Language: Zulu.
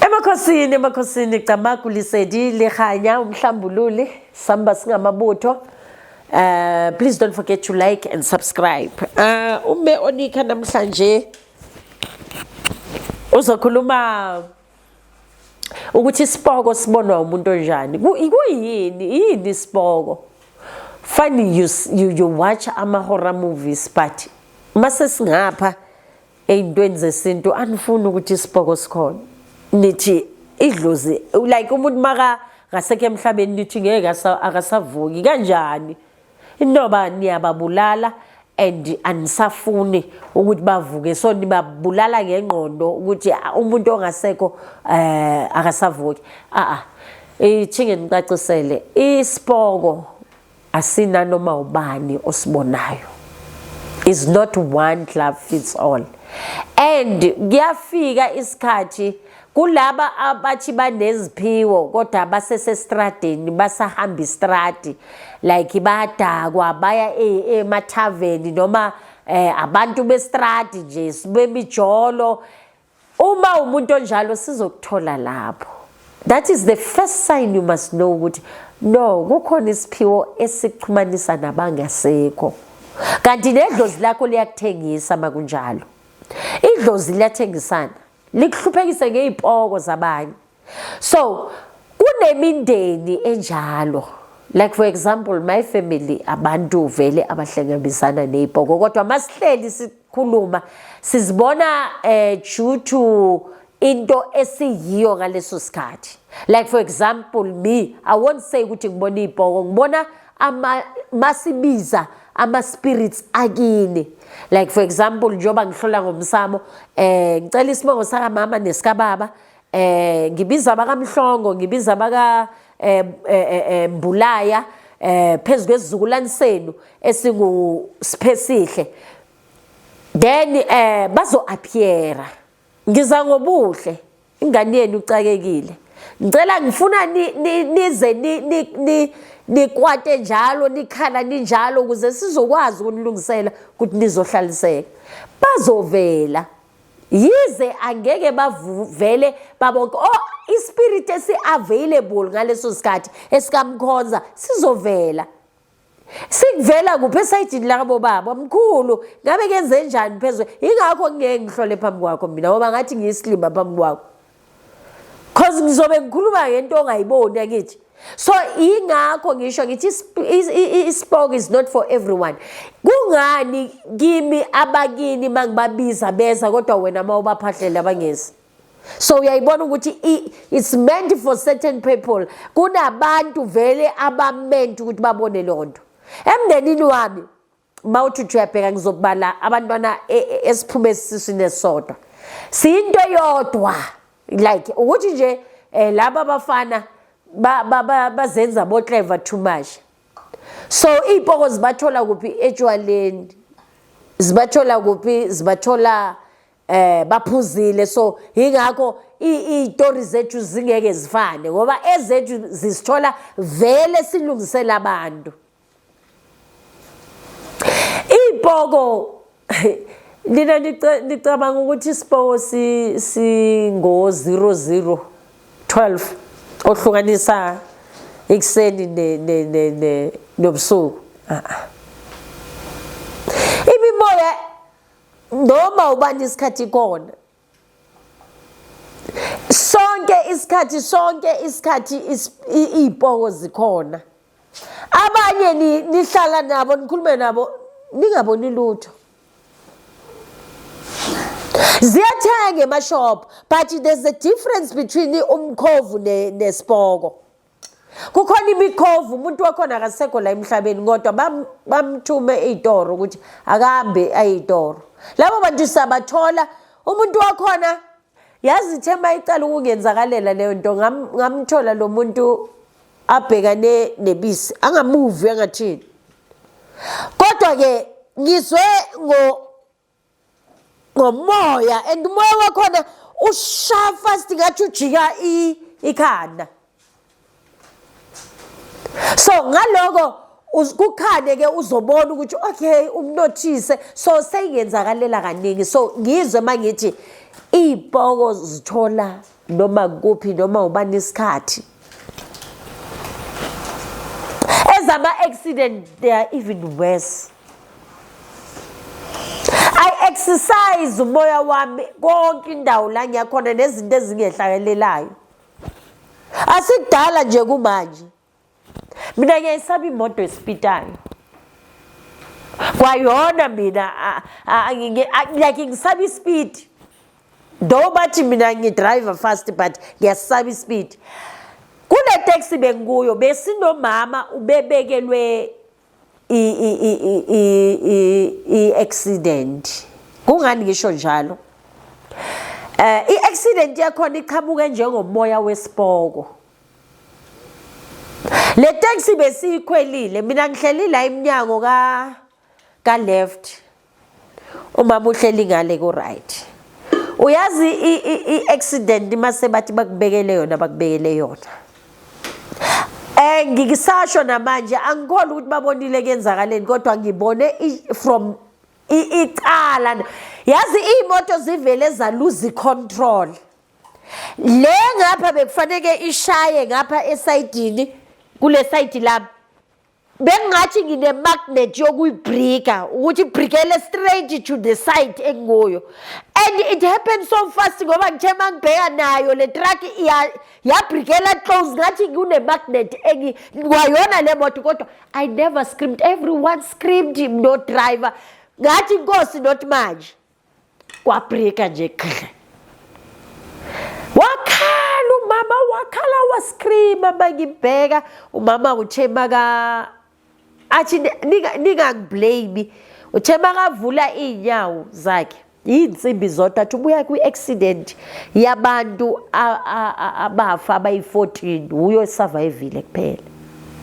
Emakhosini emakhosini Camagu Lesedi Lekganya uMhlambululi samba singamabutho Uh, please don't forget to like and subscribe. Uh, ume onika namhlanje uzokhuluma ukuthi isiboko sibonwa umuntu onjani. Kuyini? Yini isiboko? Funny you you, you watch amahora movies but mase singapha ey'ntweni zesintu anifuni ukuthi isibhoko sikhona nithi idlozi like umuntu maka ngasekho emhlabeni nithi ngeke akasavuki kanjani intoba niyababulala and anisafuni ukuthi bavuke so nibabulala ngengqondo ukuthi ah, umuntu ongasekho eh akasavuki a a ithinge nicacisele isipoko asinanoma ubani osibonayo is not one glove fits all and kuyafika isikhathi kulaba abathi baneziphiwo kodwa basesestradeni basahamba istradi like badakwa baya e, emathaveni noma eh abantu bestradi nje sibemijolo Uma umuntu onjalo sizokuthola lapho. That is the first sign you must know ukuthi no kukhona isiphiwo esikuxhumanisa nabangasekho. Kanti nedlozi lakho liyakuthengisa makunjalo. Idlozi liyathengisana. Likuhluphekise ngezipoko zabanye. so kunemindeni enjalo like for example my family abantu vele abahlangabisana ney'bhoko kodwa masihleli sikhuluma sizibona um due to into esiyiyo ngaleso sikhathi like for example me i won't say ukuthi ngibona iy'bhoko ngibona masibiza ama-spirits akini like for example njengoba ngihlola ngomsamo um ngicela isibongo sakamama nesikababa eh ngibiza bakaMhlongo ngibiza baka eh, eh, eh, eh Mbulaya eh phezulu kwezizukulwane senu esingu Siphesihle then eh bazo appeara ngiza ngobuhle ingane yenu ucakekile ngicela ngifuna nize ni nikwate njalo nikhala ninjalo ukuze sizokwazi ukunilungisela ukuthi nizohlaliseka bazovela yize angeke bavele babonke o oh, ispirit esi-available ngaleso sikhathi esikamkhonza sizovela sikuvela kuphi esayidini labo baba mkhulu ngabe kenze njani phezulu yingakho ngingeke ngihlole phambi kwakho mina ngoba ngathi ngiyisilima phambi kwakho cause ngizobe ngikhuluma ngento ongayiboni akithi so ingakho ngisho ngithi ispoke is not for everyone kungani kimi abakini mangibabiza beza kodwa wena ma ubaphahlele abangezi so uyayibona ukuthi it's meant for certain people kunabantu vele abament ukuthi babone lonto emndenini wami uma uthi uthi uyabheka ngizobala abantwana e, e, esiphume esiswini esisodwa siyinto eyodwa like ukuthi nje um laba bafana bazenza boclever too much so iy'poko zibathola kuphi etshwaleni zibathola kuphi zibathola eh baphuzile so ingakho izitori zethu zingeke zifane ngoba ezethu zisithola vele silungisela abantu Iy'poko lina licabanga ukuthi isipoko singo-zero zero twelve ohlukanisa ekuseni nobusuku imimoya noma ubani isikhathi ikona sonke isikhathi sonke isikhathi iy'poko zikhona abanye nihlala nabo nikhulume nabo ningaboni lutho ziyathenga emashop but there's a difference between umkhovu nesipoko kukhona imikhovu umuntu wakhona akasekho la emhlabeni kodwa bamthume ey'toro ukuthi akahambe ayey'toro labo bantu siyabathola umuntu wakhona yazi ithe uma icala ukungenzakalela leyo nto ngamthola lo muntu abhekane nebisi angamuvi angathini kodwa-ke ngizwe ngomoya and umoya wakhona ushaya fast ngathi ujika ikhanda so ngaloko kukhane ke uzobona ukuthi okay umnothise so seyingenzakalela kaningi so ngizwe mangithi iy'poko zithola noma kuphi noma ubani isikhathi ezama-accident they are even worse exercise umoya wami konke indawo la ngiyakhona nezinto ezingehlakelelayo asikudala nje kumanje mina ngiyayisaba imoto esipitayo kwayona mina like ngisaba ispeed though bathi mina ngidrive fast but ngiyasaba ispeed kune taxi bengikuyo besinomama ubebekelwe i-accident kungani ngisho njalo eh i-accident yakhona iqhamuke njengomoya wesipoko le taxi besiyikhwelile mina ngihleli la emnyango ka ka left umama uhleli ngale ku right uyazi i accident mase bathi bakubekele yona bakubekele yona eh ngikisasho namanje angikholwa ukuthi babonile kenzakaleni kodwa ngibone from icala yazi imoto zivele zaluzi control le ngapha bekufaneke ishaye ngapha esayidini kule sayidi lami bengingathi ngine-magnet yokuyibrika ukuthi ibrikele straight to the site engikuyo and it happened so fast ngoba ngithe uma ngibheka nayo le truck yabrikela close ngathi kune-magnet kwayona le moto kodwa i never screamed everyone screamed no driver ngathi inkosi not manje kwabrika nje khle wakhala umama wakhala wascreama mangibheka umama uthe maka athi ningangiblame uthe makavula iy'nyawo zakhe yiy'nsimbi zodwa athi ubuya kwi-accident yabantu abafa abayi-14 wuyo esavayivile kuphela